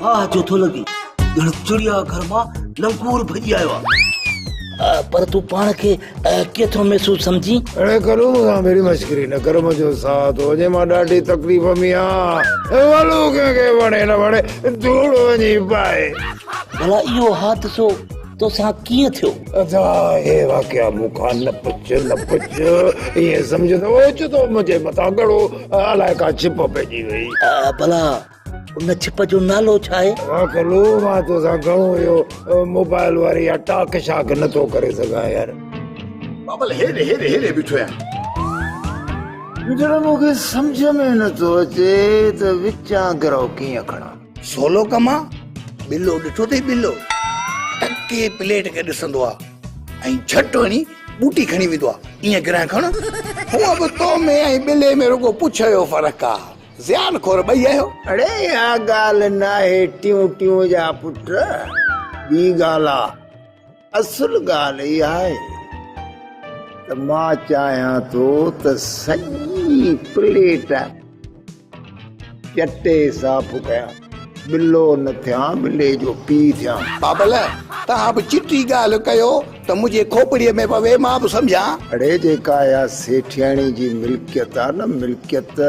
واهه جو ٿو لڳين ڄڻ چڙيا گهر مان لنگور ڀڄي آيو آهي پر تون پاڻ کي ڪيئن ٿو محسوس سمجھين اڙي ڪرو مونکان بيري مشڪري نه ڪر منهنجو ساٿ هو جي مان ڏاڍي تڪليف ۾ آهيان والو ڪنهن کي وڻي نه وڻي ڌوڙ وڃي پائي بلا اهو حادثو توسان ڪيئن ٿيو ادا هي واقعا مونکان نه پڇ نه پڇ ائين سمجھندو اوچتو منهنجي مٿان گهڻو الائي ڪا ڇپ پئجي وئي بلا ان ڇپ جو نالو ڇا آهي؟ ڪلو مان تو سان گهڻو اهو موبائل واري يا ٽاڪ شاڪ نه ٿو ڪري سگهان يار بابل هيڏي هيڏي هيڏي بيٺو آهيان جڏهن مون کي سمجھ ۾ نه ٿو اچي ته وچان گرو ڪيئن کڻان سولو ڪم آ بلو ڏٺو اٿئي بلو ٽڪي پليٽ کي ڏسندو آ ۽ جھٽ وڃي ٻوٽي کڻي ويندو آ ايئن گرهه کڻ هونء به تو ۾ ۽ بلي ۾ رڳو پڇ جو فرق آ زيان خور ٻئي آهيو. اڙي اها ڳالهه ناهي ٽيون ٽيون جا پٽ ٻي ڳالهه آ اصل ڳالهه اها آهي ته مان چاهيان ٿو ته سڄي پليٽ چٽي صاف ڪيان. ٻلو نه ٿيان ٻلي جو پيء ٿيان. بابل، توهان به چٽي ڳالهه ڪيو ته منهنجي کوپڙيء ۾ پوي، مان به سمجهان. اڙي جيڪا اها سيٺياڻي جي ملڪيت آ نه ملڪيت.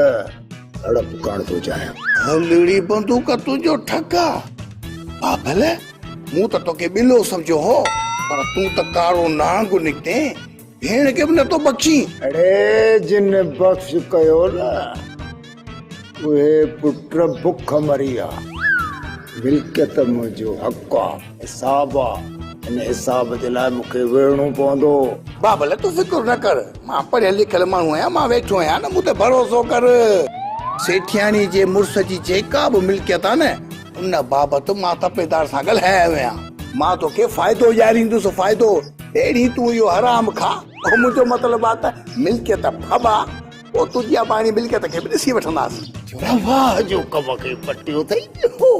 اڙپ ڪاڻ ٿو چاهيان. هلڙي بندوق تنهنجو ٺڪ آ. بابل، مون ته توکي ٻلو سمجهيو هو پر تون ته ڪارو نانگ نڪتين. ڀيڻ کي به نه ٿو بخشين. اڙي جن بخش ڪيو نه اهي پٽ بک مري آ. ملڪيت منهنجو حق آ. حساب آ. ان حساب جي لاء مون کي وڙهڻو پوندو. بابل تون فڪر نه ڪر. مان پڙهيل لکيل ماڻهو آهيان. مان ويٺو آهيان نه مون تي ڀروسو ڪر. سيٺياڻي جي مڙس جي جيڪا به ملڪيت آ نه. ان بابت مان تپيدار سان ڳالهائي آيو آهيان. مان توکي فائدو ڏياريندس، فائدو! پهرين تون اهو حرام کاء، پوء منهنجو مطلب آهي ته ملڪيت ڦٻا، پوء تنهنجي اباڻي ملڪيت کي به ڏسي وٺنداسين. رواح جو ڪم کي پٽيو اٿئي ڏيهو.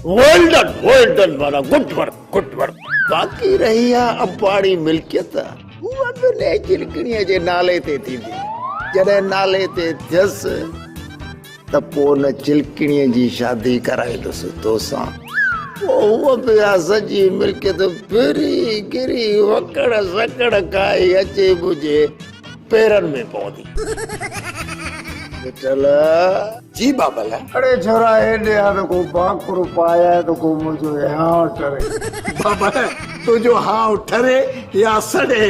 ويل ڊن، ويل ڊن معنيٰ گڊ ورڪ، گڊ ورڪ. باقي رهي اها اباڻي ملڪيت، اها به نيجرڪڻيء جي نالي تي ٿيندي، جڏهن نالي تي ٿيس. ته پوء ان چلڪڻيء جي شادي ڪرائيندس توسان. پوء هوء به اها سڄي ملڪيت ڦري گهري وڪڙ سڪڙ کائي اچي منهنجي پيرن ۾ پوندي. مٺل. جي بابل. اڙي ڇورا هيڏي آ ته ڪو ڀاڪر پاياء ته ڪو منهنجو هانء ٽري. بابل. تنهنجو هانء ٽري يا سڙي.